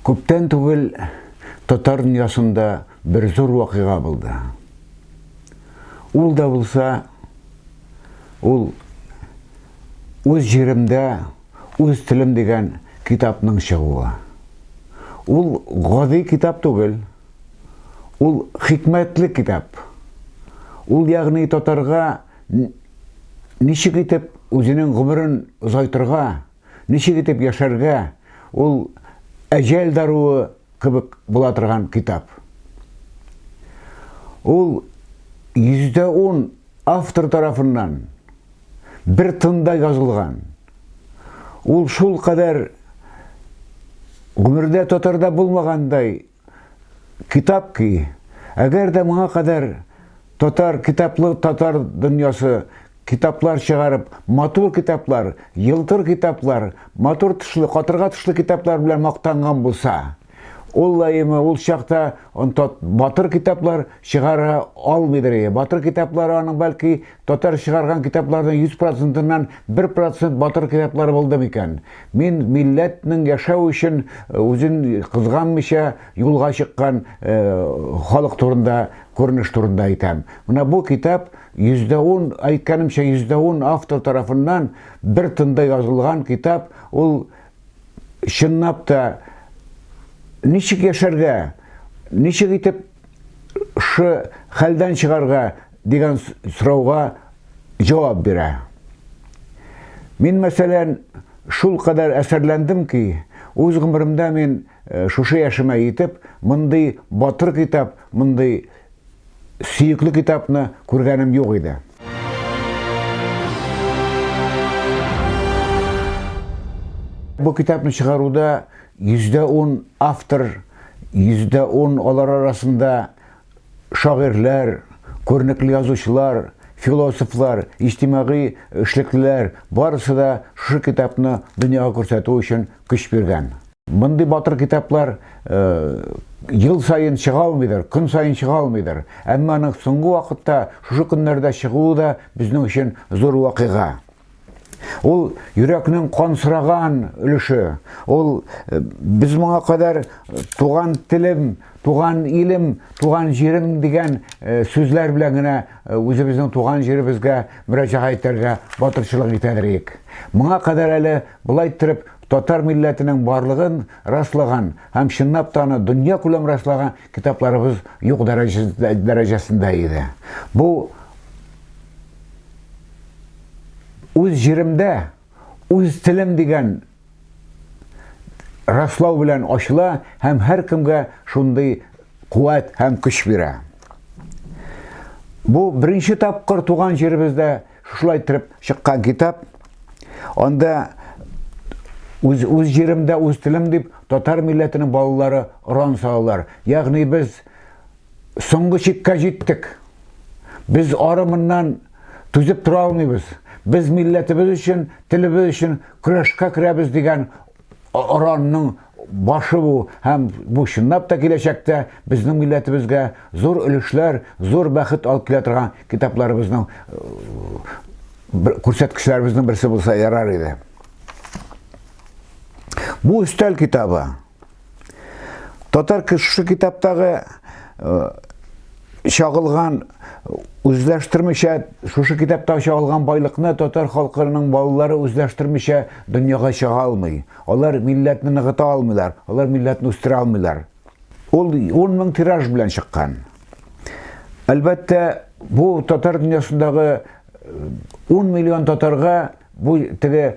Күптән түгел татар дөньясында бер зур вакыйга булды. Ул да булса, ул Үз җиремдә, үз телем дигән китапның чыгуы. Ул гади китап түгел. Ул хикмәтле китап. Ул, ягъни, татарга ничек итеп үзенең гомерен озайтырга, ничек итеп яшәргә, ул әҗәл даруы кебек була торган китап. Ул 110 автор тарафыннан бер тында язылган. Ул шул кадәр гомердә татарда булмагандай китап ки, әгәр дә моңа кадәр татар китаплы татар дөньясы Китаплар чыгарып, матур китаплар, елтыр китаплар, матур тышлы, катырга тышлы китаплар белән мактанган булса, ул лаемы ул чакта онтат батыр китаплар чыгара алмыйдыр ие. Батыр китаплары аның бәлки татар чыгарган китапларның 100 процентыннан 1 процент батыр китаплары булды микән? Мин милләтнең яшәү өчен э, үзен кызганмыйча юлга чыккан э, халык турында, күренеш турында әйтәм. Менә бу китап Йөздә ун, әйткәнемчә, йөздә ун автор тарафыннан бер тында язылган китап, ул, чынлап та, ничек яшәргә, ничек итеп шы хәлдән чыгарга дигән сорауга җавап бирә. Мин, мәсәлән, шул кадәр әсәрләндем ки, үз гомеремдә мин шушы яшемә җитеп, мондый батыр китап, мондый сөекле китапны күргәнем юк иде. Бу китапны чыгаруда йөздә ун автор, йөздә ун алар арасында шагыйрьләр, күренекле язучылар, философлар, иҗтимагый эшлеклеләр барысы да шушы китапны дөньяга күрсәтү өчен көч биргән. Мондый батыр китаплар ел саен чыга алмыйдыр, көн саен чыга алмыйдыр. Әмма аның соңгы вакытта шушы көннәрдә чыгуы да безнең өчен зур вакыйга. Ул йөрәкнең кан сораган өлеше. Ул без моңа кадәр туган телем, туган илем, туган җирем дигән сүзләр белән генә үзебезнең туган җиребезгә мөрәҗәгать итәргә батырчылык итәдер идек. Моңа кадәр әле Болай иттереп, татар милләтенең барлыгын раслаган һәм чынлап та аны дөньякүләм раслаган китапларыбыз юк дәрәҗәсендә иде. Бу үз җиремдә, үз телем дигән раслау белән ачыла һәм һәркемгә шундый куәт һәм көч бирә. Бу беренче тапкыр туган җиребездә Шулай итеп чыккан китап. Анда үз үз җиремдә үз телем дип татар милләтенең балалары рон салалар. Ягъни без соңгы чиккә җиттек. Без арымыннан түзеп тора алмыйбыз. Без милләтебез өчен, телебез өчен көрәшкә керәбез дигән Оранның башы бу һәм бу чынлап та киләчәктә безнең милләтебезгә зур өлешләр, зур бәхет алып килә торган китапларыбызның күрсәткечләребезнең берсе булса ярар иде. Бу өстәл китабы. Татар кеше китаптагы чагылган үзләштермичә шушы китапта чагылган байлыкны татар халкының балалары үзләштермичә дөньяга чыга алмый алар милләтне ныгыта алмыйлар алар милләтне үстерә алмыйлар ул 10 мең тираж белән чыккан әлбәттә бу татар дөньясындагы 10 э, миллион татарга Бу теге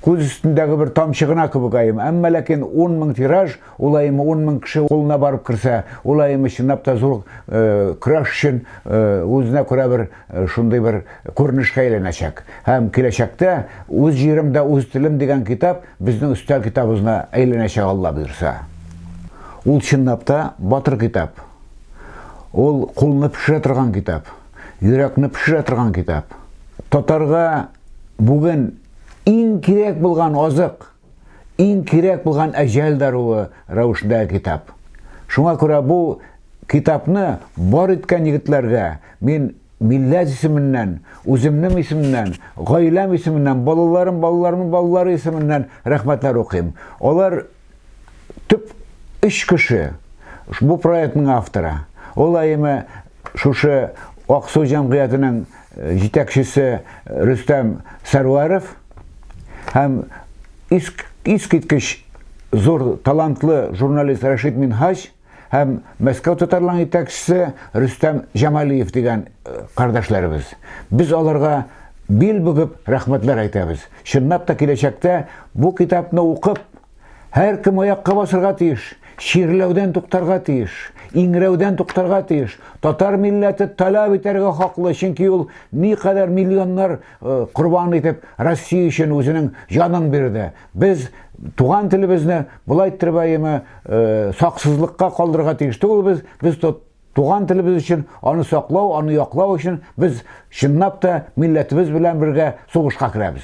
күз өстендәге бер тамчы гына кебек айым. Әмма ләкин 10 мең тираж, ул айым 10 мең кеше кулына барып керсә, ул айым чынлап та зур э, көрәш өчен э, үзенә күрә бер э, шундый бер күренешкә әйләнәчәк. Һәм киләчәктә үз җиремдә үз телем дигән китап безнең өстәл китабыбызына әйләнәчәк Алла боерса. Ул чынлап та батыр китап. Ул кулны пешерә торган китап. Йөрәкне пешерә торган китап. Татарга бүген иң кирәк булган азык, иң кирәк булган әҗәл даруы рәвешендә китап. Шуңа күрә бу китапны бар иткән егетләргә мин милләт исеменнән, үземнең исемнән, гаиләм исеменнән, балаларым, балаларымның балалары исеменнән рәхмәтләр укыйм. Алар төп өч кеше бу проектның авторы. Ул әйеме шушы Аксу җәмгыятенең э, җитәкчесе э, Рөстәм Сәрвәров һәм искиткеч зур талантлы журналист Рәшит Минһаҗ Һәм Мәскәү татарларының итәкчесе Рөстәм Җамалиев дигән э, кардәшләребез. Без аларга бил бүгеп рәхмәтләр әйтәбез. Чынлап та киләчәктә бу китапны укып, һәр кем аякка басырга тиеш, чирләүдән туктарга тиеш, иңрәүдән туктарга тиеш. Татар милләте таләп итәргә хаклы, чөнки ул никадәр миллионнар э, корбан итеп Россия өчен үзенең җанын бирде. Без туган телебезне болай иттереп әйеме э, саксызлыкка калдырырга тиеш түгелбез. Без туган телебез өчен аны саклау, аны яклау өчен без чынлап та милләтебез белән бергә сугышка керәбез.